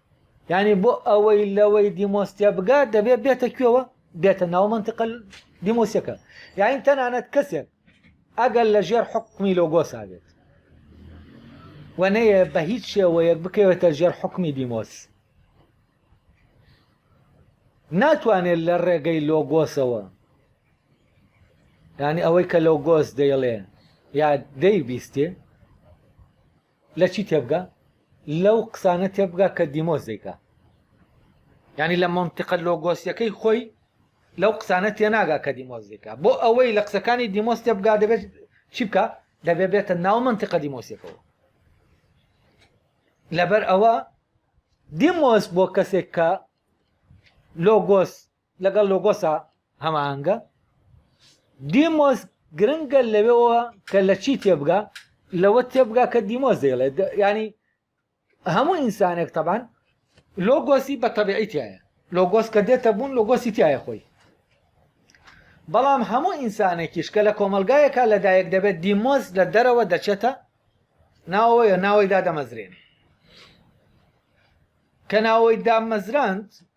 یانی بۆ ئەوەی لەوەی دیمۆستە بگا دەبێت بێتە کوێوە بێتە ناو منتیقە دیمۆسیەکە یاین تەنانەت کەسێک ئەگەر لە ژێر حکومی لۆگۆسا بێت و نەیە بە هیچ شێوەیەک بکەوێتە ژێر حکومی دیمۆس ناتوانێت لە ڕێگەی لۆگۆسەوە ینی ئەوەی کە لۆگۆس دەیڵێ یا دەیبیستێ لە چی تێبگا لەو قسانە تێبگا کە دیمۆس دەیکا یعنی لە مەنتیقە لۆگۆسیەکەی خۆی لەو قسانە تێناگا کە دیمۆس دەیکا بۆ ئەوەی لە قسەکانی دیمۆس تێبگا دەبێت چی بکە دەبێت بێتە ناو مەنتیقە دیمۆسیەکەەوە لەبەر ئەوە دیمۆس بۆ کەسێک کە لۆگۆس لەگەڵ لۆگۆسا هەماهەنگە. دیمۆس گرنگە لەوێەوە کە لە چی تێبگا لەوە تێبگا کە دیمۆس دەیڵێت ینی هەموو ئینسانێک تەبان لۆگۆسی بە تەبیعی تایە لۆگۆس کە دێتە بوون لۆگۆسی تایە خۆی بەڵام هەموو ئینسانێکیش کە لە کۆمەلگایەکە لەدایەک دەبێت دیمۆز لە دەرەوە دەچێتە ناوەیە ناوەی دادەمەزرێن کە ناوەی دامەزراند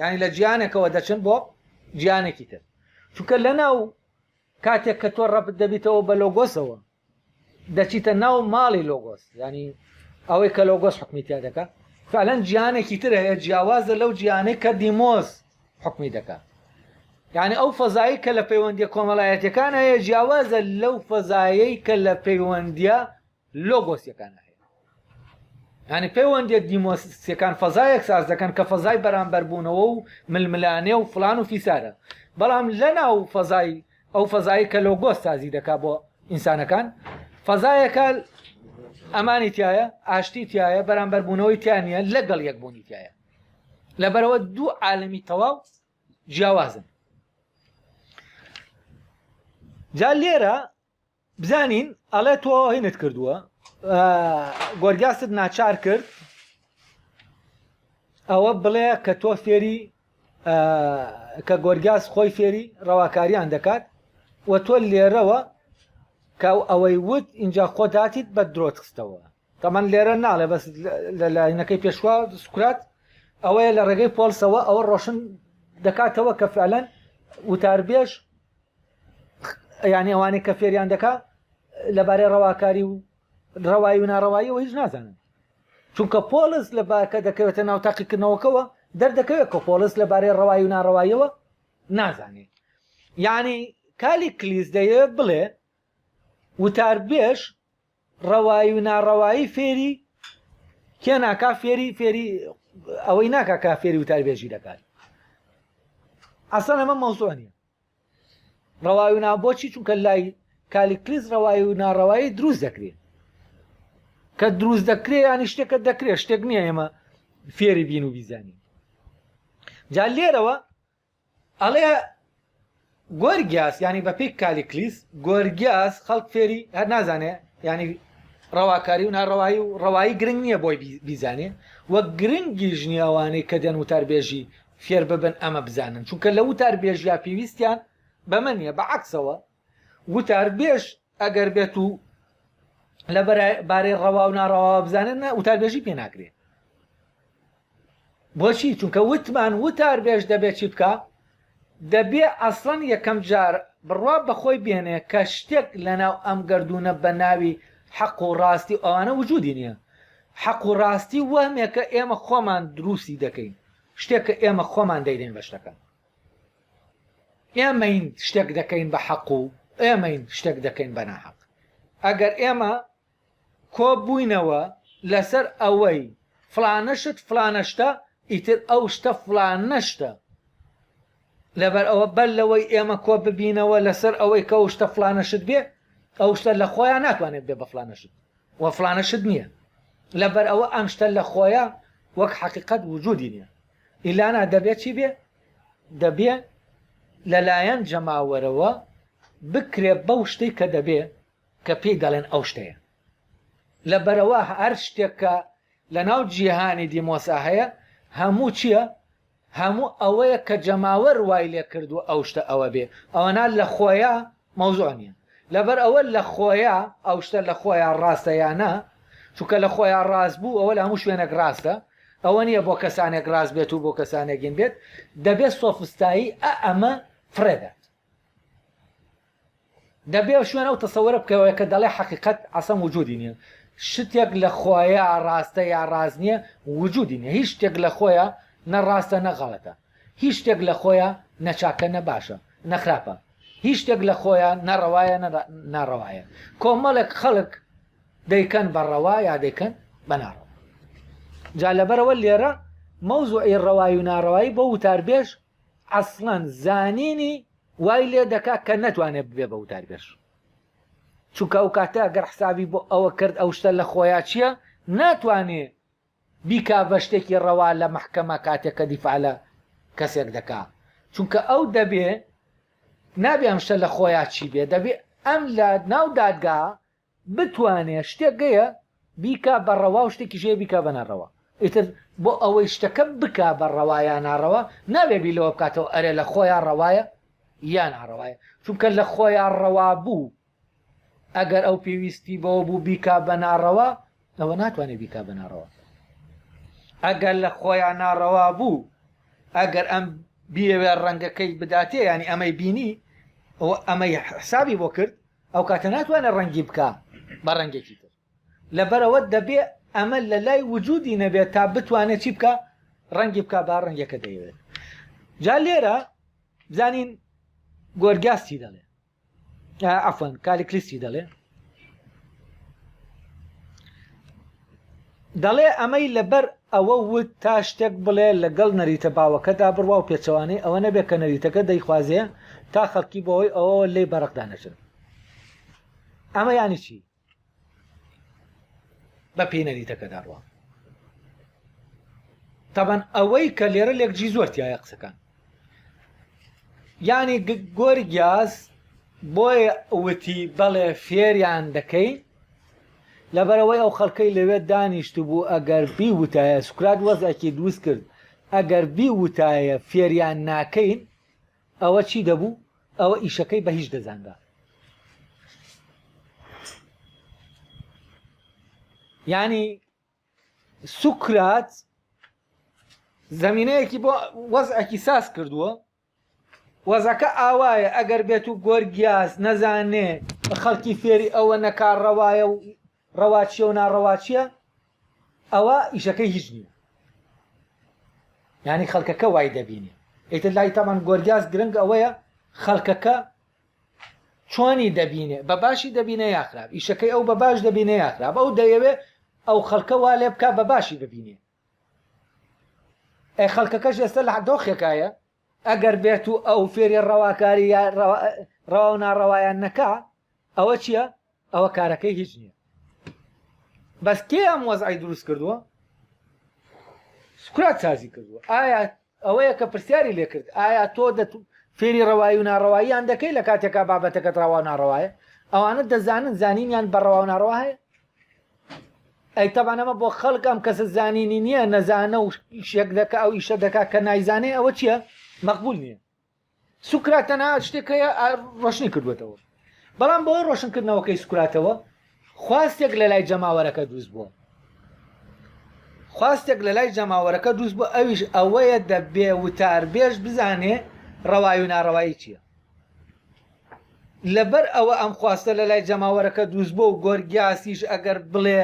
یانی لە جیانێکەوە دەچن بۆ جیانێکی تر چونکە لەناو کاتێک کە تۆ ڕەبت دەبیتەوە بە لۆگۆسەوە دەچیتە ناو ماڵی لۆگۆس ینی ئەوەی کە لۆگۆس حکمی تیا دەکە فعلەن جیانێکی تر هەیە جیاوازە لەو جیانەی کە دیمۆز حکمی دەکە یعنی ئەو فەزایی کە لە پەیوەندی کۆمەڵایەتەکان هەیە جیاوازە لەو فەزایەی کە لە پەیوەندە لۆگۆسیەکانە هەیە یانی پەیوەندیە دیمۆسیەکان فەزایەک ساز دەکەن کە فەزای بەرامبەربوونەوە و ململانێ و فلان و فیسارە بەڵام لە ناو فەزای ئەو فەزایی کە لۆگۆس سازی دەکا بۆ ئینسانەکان فەزایەکە ئەمانی تایە ئاشتی تایە بەرامبەر بوونەوەی تیانە لەگەڵ یەک بوونی تایە لەبەرەوە دوو عالمی تەواو جیاوازن جا لێرە بزانین ئەڵێ تۆ هینت کردووە گۆرگاست ناچار کرد ئەوە بڵێ کە تۆ فێری کە گۆرگاز خۆی فێری ڕەواکاریان دەکات و تۆ لێرەوە کە ئەوەی وت اینجا خۆداتیت بە درۆت خستەوە تەمان لێرە ناڵێ بەس لە لاینەکەی پێشوا سوکرات ئەوەیە لە ڕێگەی پۆلسەوە ئەوە ڕۆشن دەکاتەوە کە فعلەن وتاربێژ یعنی ئەوانەی کە فێریان دەکا لەبارەی ڕەواکاری و ڕەوایی و ناڕەواییەوە هیچ نازانن چونکە پۆلس لە باکە دەکەوێتە ناو تاقیکردنەوەکەوە دەردەکەوێت کە پۆلس لەبارەی ڕەوایی و ناڕەواییەوە نازانێ یعنی کالی کلیس دەیە بڵێ وتاربێش ڕەوایی و ناڕەوایی فێری کێ ناکا فێری فێری ئەوەی ناکا کە فێری وتاربێژی دەکات ئەسەن ئەمە مەوزوع نیە ڕەوای و نا بۆچی چونکە لای کالیکلیس ڕەوایی و ناڕەوایی دروست دەکرێت کە دروست دەکرێت ینی شتێکە دەکرێت شتێک نییە ئێمە فێری بین و بیزانین جا لێرەوە ئەڵێ گۆرگیاس یانی بە پێی کالیکلیس گۆرگیاس خەڵک فێری هەر نازانێ ینی ڕەواکاری و ناڕەوایی و ڕەوایی گرنگ نییە بۆی بیزانێ وە گرنگی ژنی ئەوانەی کە دێن وتاربێژی فێر ببن ئەمە بزانن چونکە لە وتاربێژیا پێویستیان بەمە نیە بە عکسەوە وتاربێژ ئەگەر بێت و لە بارەی ڕەوا و ناڕەواوە بزانێت نە وتاربێژی پێ ناکرێت بۆچی چونکە وتمان وتار بێژ دەبێت چی بکە دەبێ ئەسڵەن یەکەم جار بڕوا بەخۆی بێنێ کە شتێک لەناو ئەم گردونە بە ناوی حەق و ڕاستی ئەوانە وجودی نییە حەق و ڕاستی وەمێکە ئێمە خۆمان دروستی دەکەین شتێکە ئێمە خۆمان دەیدەین بە شتەکە ئێمەین شتێک دەکەین بە حەق و ئێمەین شتێک دەکەین بە ناحەق ئەگەر ئێمە کۆ بووینەوە لەسەر ئەوەی فلانەشت فلانەشتە ئیتر ئەو شتە فلانەشتە لەبەر ئەوە بەر لەوەی ئێمە کۆ ببینەوە لەسەر ئەوەی کە ئەو شتە فلانەشت بێ ئەو شتە لە خۆیان ناتوانێت بێ بە فلانەشت وە فلانەشت نییە لەبەر ئەوە ئەم شتە لە خۆیان وەک حقیقت وجودی نیە ئیلانا دەبێ چی بێ؟ دەبێ لەلایەن جەماوەرەوە بکرێ بەو شتەی کە دەبێ کە پێی دەڵێن ئەو شتەیە. لەبەرئەوە هەر شتێک کە لەناو جیهانی دیمۆسا هەیە هەموو چییە؟ هەموو ئەوەیە کە جەماوەر وای لێ کردووە ئەو شتە ئەوە بێ. ئەوەنا لە خۆیا مەوزوع نیە لەبەر ئەوە لە خۆیە ئەو شتە لە خۆیە ڕاستە یا نا چونکە لە خۆیە ڕاست بوو ئەوە لە هەموو شوێنێک ڕاستە ئەوە نیە بۆ کەسانێک ڕاست بێت و بۆ کەسانێکین بێت دەبێت سۆفستایی ئە ئەمە فڕێدات دەبێ شوێن ئەو تەسەوەرە بکەوە کە دەڵێ حقیقت ئەسەم وجودی نیە شتێک لە خۆیە ڕاستە یا ڕاست نیە وجودی نیە هیچ شتێک لە خۆیە نە ڕاستە نەغاڵەتە هیچ شتێک لە خۆیا نە چاکە نە باشە نە خراپە، هیچ شتێک لە خۆیا نە ڕەوایە نە ناڕەوایە، کۆمەڵێک خەڵک دەیکەن بە ڕەوا یا دەیکەن بە ناڕەوا. جا لەبەرەوە لێرە مەوزوعی ڕەوایی و ناڕەوایی بۆ وتاربێژ ئەسڵەن زانینی وای لێ دەکا کە نەتوانێت ببێ بە وتاربێژ. چونکە ئەو کاتە گەر حسابی بۆ ئەوە کرد ئەو شتە لە خۆیا چییە ناتوانێ بیکا بە شتێکی ڕەوا لە مەحکەمە کاتێک کە دیفاع لە کەسێک دەکا چونکە ئەو دەبێ نابێ ئەم شتە لە خۆیا چی بێ دەبێ ئەم لە ناو دادگا بتوانێ شتێک گەیە بیکا بە ڕەوا و شتێکی ژێ بیکا بە ناڕەوا ئیتر بۆ ئەوەی شتەکە بکا بە ڕەوایا ناڕەوا نابێ بی لەوە بکاتەوە ئەرێ لە خۆیا ڕەوایە یان ئاڕەوایە چونکە لە خۆیا ڕەوا بوو ئەگەر ئەو پێویستی بەوە بوو بیکا بە ناڕەوا ئەوە ناتوانێت بیکا بە ناڕەوە ئەگەر لە خۆیان ناڕەوا بوو ئەگەر ئەم بیەوێ ڕەنگەکەی بداتێ ینی ئەمەی بینی ئەو ئەمەی حسابی بۆ کرد ئەو کاتە ناتوانێت ڕەنگی بکە بە ڕەنگێکی تر لەبەرەوە دەبێ ئەمە لە لای وجودی نەبێت تا بتوانێت چی بکە ڕەنگی بکە با ڕەنگەکە دەیەوێت جا لێرە زانین گۆرگاستی دەڵێ عفوان کالیکلیسی دەڵێ دەڵێ ئەمەی لەبەر ئەوە وت تا شتێک بڵێ لەگەڵ نەریتە باوەکەدا بڕوا و پێچەوانەی ئەوە نەبێت کە نەریتەکە دەیخوازێ تا خەڵکی بۆەوەی ئەوەوە لی بەڕقدا نەچن ئەمە ینی چی بە پێی نەریتەکەدا ڕوە تەبەن ئەوەی کە لێرە لێک جی زۆر تایە قسەکان ینی گۆری گیاز بۆی وتی بەڵێ فێریان دەکەی لەبەرەوەی ئەو خەڵکەی لەوێ دانیشت بوو ئەگەر بی وتایە سوکرات وەزەکی دروست کرد ئەگەر بی وتایە فێریان ناکەین ئەوە چی دەبوو؟ ئەوە ئیشەکەی بە هیچ دەزانرا. یانی سوکرات زمینەیەکی بۆ وەزعەکی ساز کردووە وەزەکە ئاوایە ئەگەر بێت و گۆرگیاز نەزانێ خەڵکی فێری ئەوە نەکار ڕەوایە و ڕەواچیە و ناڕەواچیە ئەوە ئیشەکەی هیچ نیە یانی خەلکەکە وای دەبینێ ئیتر لای تامان گۆرگیاز گرنگ ئەوەیە خەلکەکە چۆنی دەبینێ بە باشی دەبینێ یاخراپ ئیشەکەی ئەو بە باش دەبینێ یاخراپ ئەو دەیەوێ ئەو خەلکە وا لێ بک بە باشی ببینێ ئەی خەڵکەکەش ئێستا لە دۆخێکایە ئەگەر بێت و ئەو فێری ڕەواکاری ڕەوا و ناڕەوایان نەکا ئەوە چییە ئەوە کارەکەی هیچ نییە بەس کێ ئەم وەزعی دروست کردووە سکرات سازی کردووە ئایا ئەوەیە کە پرسیاری لێ کرد، ئایا تۆ دە فێری ڕەوایی و ناڕەواییان دەکەی لە کاتێکا بابەتەکەت ڕەوا و ناڕەوایە؟ ئەوانە دەزانن زانینیان بە ڕەوا و ناڕەوا هەیە؟ ئەی تەبان ئەمە بۆ خەڵک ئەم کەسە زانینی نییە نەزانە و شێک دەکە ئەو ئیشە دەکا کە نایزانێ ئەوە چییە؟ مەقبول نییە. سوکرات تەنها شتێک هەیە ڕۆشنی کردوێتەوە بەڵام بۆی ڕۆشنکردنەوەکەی سوکراتەوە خواستێک لە لای جەماوەرەکە دروست بووە خواستێک لە لای جەماوەرەکە دروست بوو ئەویش ئەوەیە دەبێ وتار بێژ بزانێ ڕەوای و ناڕەوایی چییە لەبەر ئەوە ئەم خواستە لە لای جەماوەرەکە دروست بۆ و گۆرگیاسیش ئەگەر بڵێ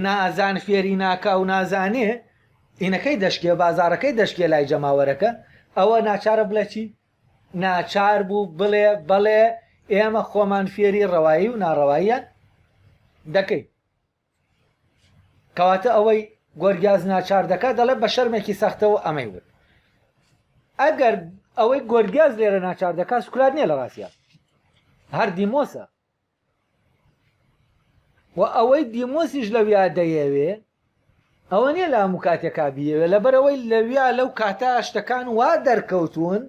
نازان فێری ناکا و نازانێ ئینەکەی دەشکێ، بازاڕەکەی دەشکێ لای جەماوەرەکە، ئەوە ناچارە بڵێ چی؟ ناچار بوو بڵێ بەڵێ ئێمە خۆمان فێری ڕەوایی و ناڕەواییان دەکەین. کەواتە ئەوەی گۆرگیاز ناچار دەکات دەڵێ بە شەرمێکی سەختەوە ئەمەی وت. ئەگەر ئەوەی گۆرگیاز لێرە ناچار دەکات سکرات نییە لە ڕاستیان هەر دیمۆسە و ئەوەی دیمۆسیش لەویا دەیەوێ ئەوە نیە لە هەموو کاتێکا بیەوێ لەبەرەوەی لەویا لەو کاتە شتەکان وا دەرکەوتون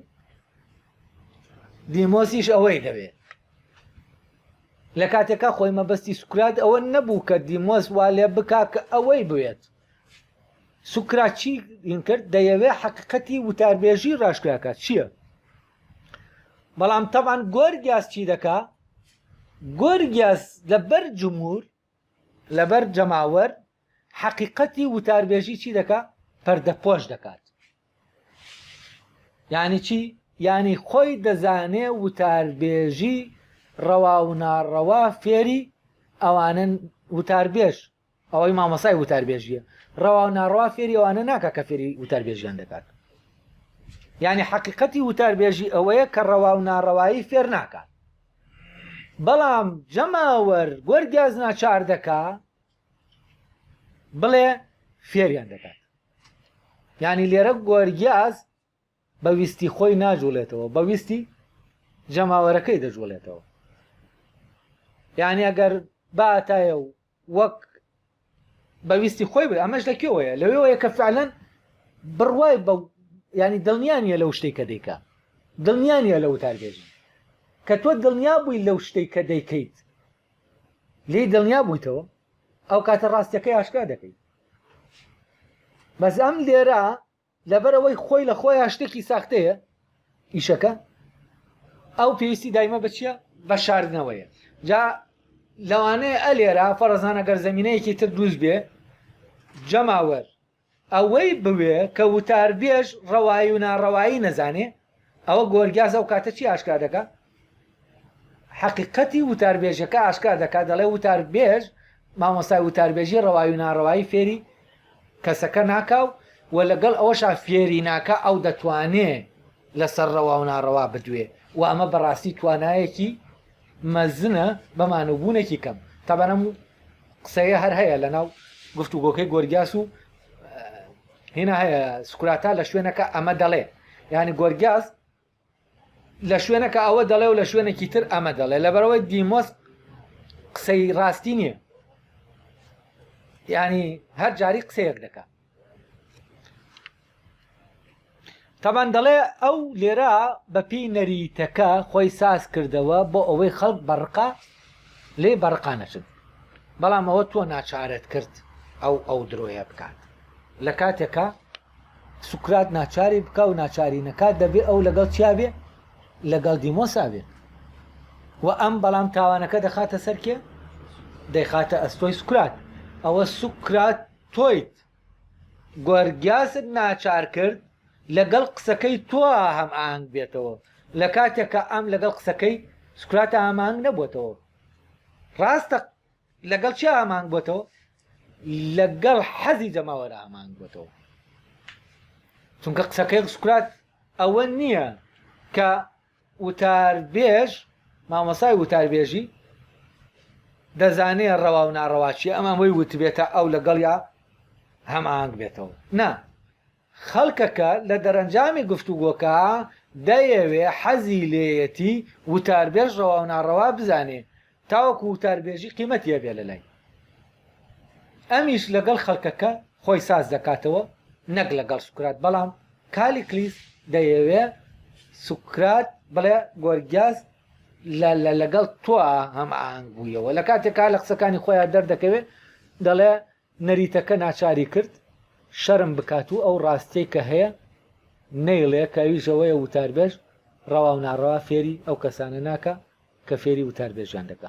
دیمۆسیش ئەوەی دەوێ لە کاتێکا خۆی مەبەستی سوکرات ئەوە نەبوو کە دیمۆس وا لێ بکا کە ئەوەی بوێت سوکراچی کرد دەیەوێ حقیقەتی وتاربێژی ڕاشکراکات چییە؟ بەڵام تەبعەن گۆرگیاس چی دەکا گۆرگیاس لەبەر جمهور لەبەر جەماوەر حەقیقەتی وتاربێژی چی دەکا پەردەپۆش دەکات یعنی چی یعنی خۆی دەزانێ وتاربێژی ڕەوا و ناڕەوا فێری ئەوانن وتاربێژ ئەوەی مامۆستای وتاربێژیە ڕەوا و ناڕەوا فێری ئەوانە ناکە کە فێری وتاربێژیان دەکات یعنی حەقیقەتی وتاربێژی ئەوەیە کە ڕەوا و ناڕەوایی فێر ناکات بەڵام جەماوەر گۆرگاز ناچار دەکا بڵێ فێریان دەکات ینی لێرە گۆرگیاز بە ویستی خۆی ناجوڵێتەوە بە ویستی جەماوەرەکەی دەجوڵێتەوە یعنی ئەگەر باتایە و وەک بە ویستی خۆی بێ ئەمەش لە کێوەیە لەوێوەیە کە فعلەن بڕوای بە ینی دڵنیانە لەو شتێک کە دەیکە دڵنیانە لە وتاربێژی کە تۆ دڵنیا بووی لەو شتێک کە دەیکەیت لێی دڵنیا بوویتەوە ئەو کاتە ڕاستەکەی ئاشکرا دەکەیت بەس ئەم لێرە لەبەرئەوەی خۆی لە خۆیا شتێکی ساختەیە ئیشەکە ئەو پێویستی دایمە بچیە بە شاردنەوەیە جا لەوانەیە ئەلێرا فەرزانە گەر زمینەیەکی تر دروست بێ جەماوەر ئەوەی بوێ کە وتاربێژ ڕەوایی و ناڕەوایی نەزانێ ئەوە گۆرگیاس ئەو کاتە چی ئاشکرا دەکا؟ حەقیقەتی وتاربێژەکە ئاشکرا دەکا دەڵێ وتاربێژ مامۆستای وتاربێژی ڕەوایی و ناڕەوایی فێری کەسەکە ناکا و و لەگەڵ ئەوەشا فێری ناکا ئەو دەتوانێ لەسەر ڕەوا و ناڕەوا بدوێ و ئەمە بەڕاستی توانایەکی مەزنە بە مانوبوونێکی کەم تابانەم قسەیە هەر هەیە لەناو گفتوگۆکەی گۆرگیاس و هینا سکراتا لە شوێنەکە ئەمە دەڵێ یانی گۆرگیاز لە شوێنەکە ئەوە دەڵێ و لە شوێنێکی تر ئەمە دەڵێ لەبەرەوەی دیمۆس قسەی ڕاستی نییە ینی هەر جاری قسەیەک دەکە تابان دەڵێ ئەو لێرە بە پێی نەریتەکە خۆی ساز کردەوە بۆ ئەوەی خەڵک بە ڕقا لێی بە ڕقا نەچن. بەڵام ئەوە تۆ ناچارت کرد ئەو ئەو درۆیە بکات. لە کاتێکا سوکرات ناچاری بکا و ناچاری نەکات دەبێ ئەو لەگەڵ چیا بێ؟ لەگەڵ دیمۆسا بێ. و ئەم بەڵام تاوانەکە دەخاتە سەر کێ؟ دەیخاتە ئەستۆی سوکرات. ئەوە سوکرات تۆیت. گۆرگیاست ناچار کرد لەگەڵ قسەکەی تۆ هەم ئاهەنگ بێتەوە لە کاتێکە ئەم لەگەڵ قسەکەی سکراتە ئامانگ نەبووتەوە ڕاستە لەگەڵ چی ئامانگ بۆتەوە لەگەڵ حەزی جەماوەرە ئامانگ بۆتەوە چونکە قسەکەی سکرات ئەوە نییە کە وتاربێژ، مامۆستای وتاربێژی دەزانێ ڕەوا و ناڕەوا چییە، ئەم ئەوەی وتبێتە ئەو لەگەڵیا هەماهەنگ بێتەوە؟ نا. خەڵکەکە لە دەرەنجامی گفتوگۆکە دەیەوێ، حەزی لێیەتی وتاربێژ ڕەوا و ناڕەوا بزانێ، تاوەکو وتاربێژی قیمەتی هەبێت لەلای ئەمیش لەگەڵ خەڵکەکە خۆی ساز دەکاتەوە نەک لەگەڵ سوکرات بەڵام کالیکلیس دەیەوێ سوکرات بڵێ گۆرگیاس لە لەگەڵ تۆ هەم ئاهنگ بوویەوە لە کاتێکا لە قسەکانی خۆیان دەردەکەوێت دەڵێ نەریتەکە ناچاری کرد شەرم بکات و ئەو ڕاستیەی کە هەیە نەیڵێ کە ئەویش ئەوەیە وتاربێژ ڕەوا و ناڕەوا فێری ئەو کەسانە ناکا کە فێری وتاربێژیان دەکا.